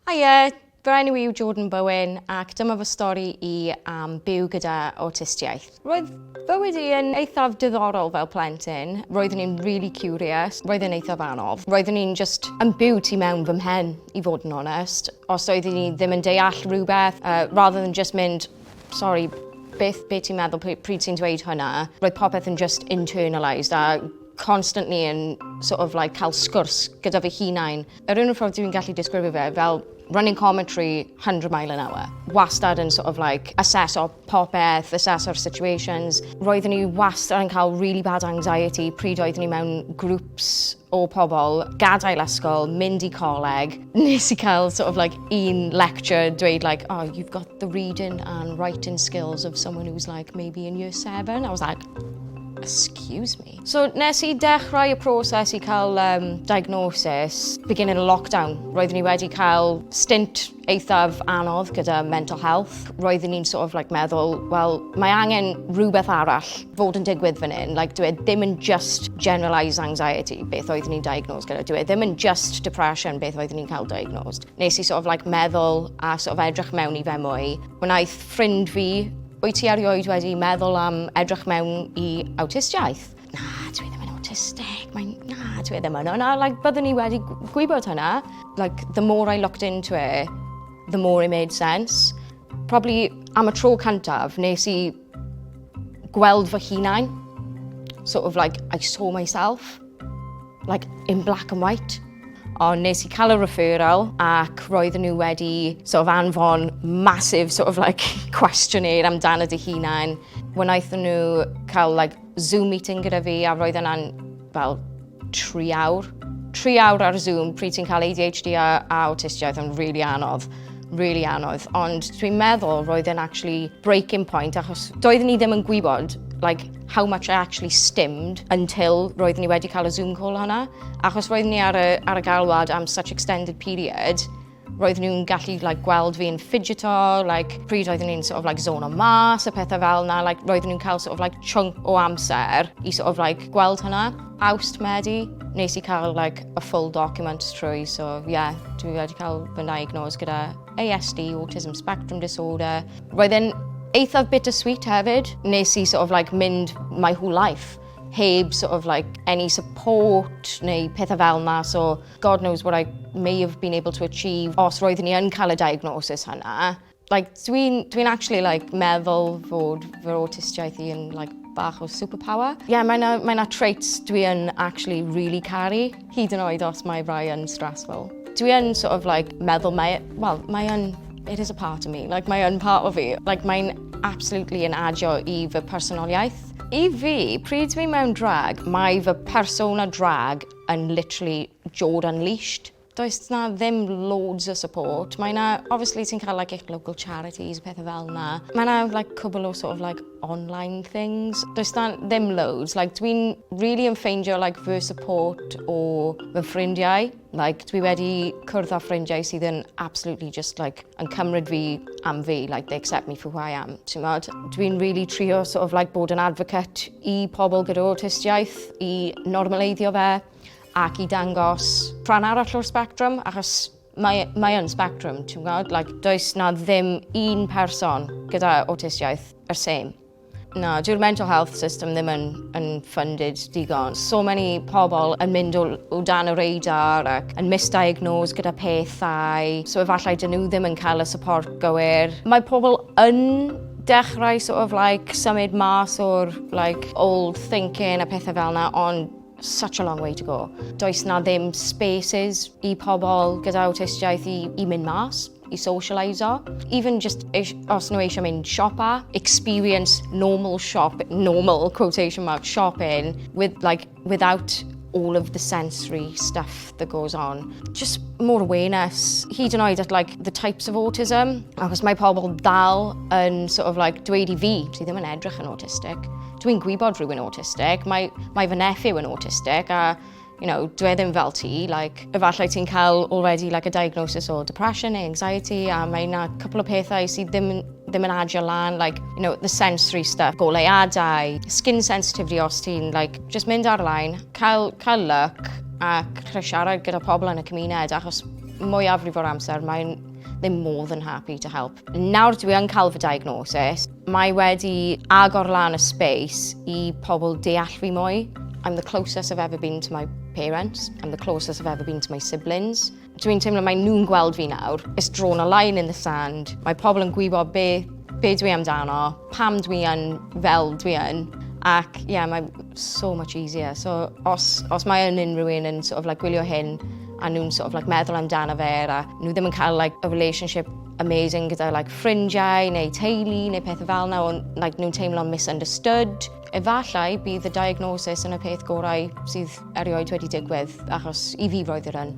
Haia, fy enw yw Jordan Bowen ac dyma fy stori i am byw gyda awtistiaeth. Roedd bywyd i yn eithaf diddorol fel plentyn. Roeddwn i'n really curious, roedd e'n eithaf anodd. Roeddwn i'n just yn byw tu mewn fy mhen, i fod yn onest. Os oeddwn i ddim yn deall rhywbeth, uh, rather than just mynd, sorry, beth be ti'n meddwl pryd, pryd ti'n dweud hwnna, roedd popeth yn just internalised a constantly yn sort of like cael sgwrs gyda fy hunain. Yr un ffordd dwi'n gallu disgrifio fe fel running commentary 100 mile an hour. Wastad yn sort of like assess o popeth, assess o'r situations. Roeddwn i wastad yn cael really bad anxiety pryd oeddwn i mewn groups o pobl, gadael ysgol, mynd i coleg. Nes i cael sort of like un lecture dweud like, oh, you've got the reading and writing skills of someone who's like maybe in year seven. I was like, excuse me. So nes i dechrau y proses i cael um, diagnosis, beginning of lockdown, roeddwn ni wedi cael stint eithaf anodd gyda mental health. Roeddwn ni'n sort of like meddwl, wel, mae angen rhywbeth arall fod yn digwydd fan hyn. Like, dwi e ddim yn just generalised anxiety, beth oeddwn ni'n diagnosed gyda. Dwi e ddim yn just depression, beth oeddwn ni'n cael diagnosed. Nes i sort of like meddwl a sort of edrych mewn i fe mwy. Wnaeth ffrind fi, wyt ti erioed wedi meddwl am edrych mewn i awtistiaeth? Na, dwi ddim yn awtistig, mae'n... na, dwi ddim yn. Yna, like, byddwn ni wedi gwybod hynna. Like, the more I looked into it, the more it made sense. Probably am y tro cyntaf, nes i gweld fy hunain. Sort of like, I saw myself. like in black and white. Ond nes i cael y referral ac roedd nhw wedi sort of anfon massive sort of like questionnaire amdano dy hunain. Wnaethon nhw cael like Zoom meeting gyda fi a roedd yna'n fel tri awr. Tri awr ar Zoom pryd ti'n cael ADHD a, a autistiaeth yn rili really anodd really anodd, ond dwi'n meddwl roedd e'n actually breaking point achos doeddwn ni ddim yn gwybod like, how much I actually stimmed until roeddwn i wedi cael y Zoom call hwnna. Achos roeddwn i ar y, ar y galwad am such extended period, roeddwn nhw'n gallu like, gweld fi'n fidgeto, like, pryd roeddwn nhw'n sort of, like, zone o mas, y pethau fel yna, like, roeddwn nhw'n cael sort of, like, chunk o amser i sort of, like, gweld hwnna. Awst Medi, nes i cael like, a full document trwy, so yeah, dwi wedi cael fy diagnose gyda ASD, Autism Spectrum Disorder, Roedd e'n eithaf bittersweet hefyd. Nes i sort of like mynd my whole life heb sort of like any support neu pethau fel yma, so God knows what I may have been able to achieve os roeddwn i yn cael y diagnosis hynna. Like, dwi'n dwi actually like, meddwl fod fy awtistiaeth i yn like, bach o superpower. Ie, mae 'na mae 'na traits dwi yn actually rili caru. Hyd yn oed os mae rhai yn stressful. Dwi yn sort of like meddwl mae, well, mae yn, it is a part of me, like mae yn part of fi. Like mae'n absolutely yn adio i fy personoliaeth. I fi, pryd dwi mewn drag, mae fy persona drag yn literally jod unleashed. Does na ddim loads o support. Mae na, obviously ti'n cael like eich local charities, pethau fel na. Mae na like cwbl o sort of like online things. Does na ddim loads. Like, dwi'n really yn ffeindio like, fy support o fy ffrindiau. Like, dwi wedi cwrdd â ffrindiau sydd yn absolutely just like, yn cymryd fi am fi. Like, they accept me for who I am. Dwi'n really trio sort of, like, bod yn advocate i pobl gyda autistiaeth, i normaleiddio fe ac i dangos rhan arall o'r spectrum, achos Mae, mae yn spectrum, ti'n gwybod? Like, does na ddim un person gyda awtistiaeth yr same. Na, dyw'r mental health system ddim yn, yn funded digon. So many pobl yn mynd o, o dan y radar ac yn misdiagnosed gyda pethau. So efallai dyn nhw ddim yn cael y support gywir. Mae pobl yn dechrau sort of like symud mas o'r like old thinking a pethau fel yna ond Such a long way to go. Does na ddim spaces i pobl gyda awtistiaeth i, i mynd mas, i socialiso. Even just os nhw eisiau mynd siopa, experience normal shop, normal quotation mark shopping with like without all of the sensory stuff that goes on. Just more awareness, hyd yn oed at like the types of autism, achos mae pobl dal yn sort of like dweud i fi, ti ddim yn edrych yn autistic, Dwi'n gwybod rwy'n autistic, mae, mae fy nephew yn autistic a you know, dwi e ddim fel ti, like, efallai ti'n cael already like, a diagnosis o depression neu anxiety, a mae yna cwpl o pethau sydd ddim, ddim yn adio lan, like, you know, the sensory stuff, goleuadau, skin sensitivity os ti'n, like, just mynd ar-lein, cael, cael look, ac rhaid siarad gyda pobl yn y cymuned, achos mwyafrif o'r amser mae'n ddim modd yn happy to help. Nawr dwi yn cael fy diagnosis, mae wedi agor lan y space i pobl deall fi mwy. I'm the closest I've ever been to my parents, I'm the closest I've ever been to my siblings. Dwi'n teimlo mae nhw'n gweld fi nawr. It's drawn a line in the sand. Mae pobl yn gwybod be, be dwi amdano, pam dwi yn fel dwi yn. Ac ie, yeah, mae so much easier. So os, os mae yn unrhyw un yn sort of like, gwylio hyn a nhw'n sort of like, meddwl amdano fe a nhw ddim yn cael like, a relationship amazing gyda like, ffrindiau neu teulu neu pethau fel yna, ond like, nhw'n teimlo'n misunderstood. Efallai bydd y diagnosis yn y peth gorau sydd erioed wedi digwydd, achos i fi roedd yr un.